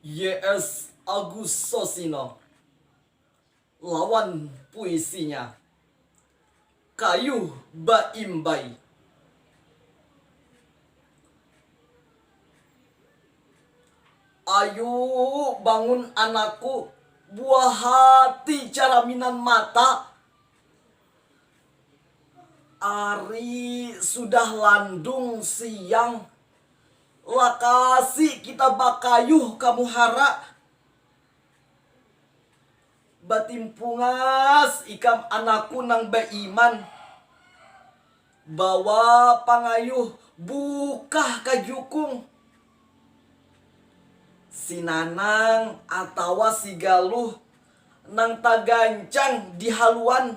YS Agus Sosino lawan puisinya Kayuh Baimbai. Ayu bangun anakku, buah hati caraminan mata, Ari sudah landung siang. Lakasi kita bakayuh ka muhara. Batimpungas ikam anakku nang baiman. Bawa pangayuh bukah ka jukung. Si Nanang atawa si Galuh nang tagancang di haluan,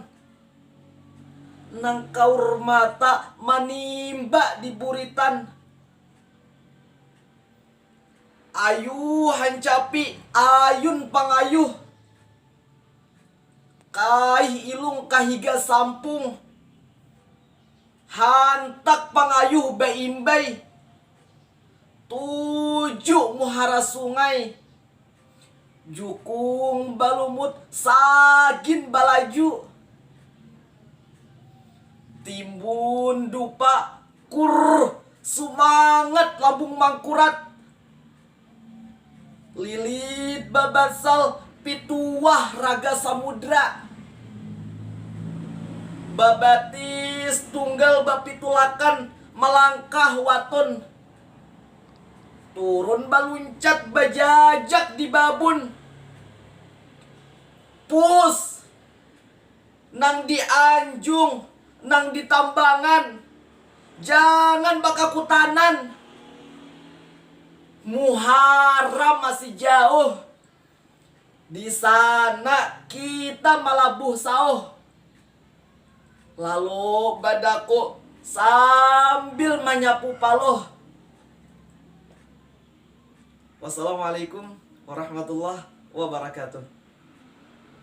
nang kaur mata manimba di buritan. Ayu hancapi ayun pangayuh. Kaih ilung ka higa sampung. Hantak pangayuh baimbai. Tuju muhara sungai. Jukung balumut sagin balaju. Timbun dupa kurr sumangat labung mangkurat. Lilit babasal pituwah raga samudra. Babatis tunggal bapitulakan malangkah watun. Turun baluncat bajajak di babun. Puss. Nang di anjung, nang di tambangan, jangan bakakutanan. Muharram masih jauh, di sana kita malabuh sauh. Lalu badaku sambil manyapu paluh. Wassalamualaikum warahmatullahi wabarakatuh.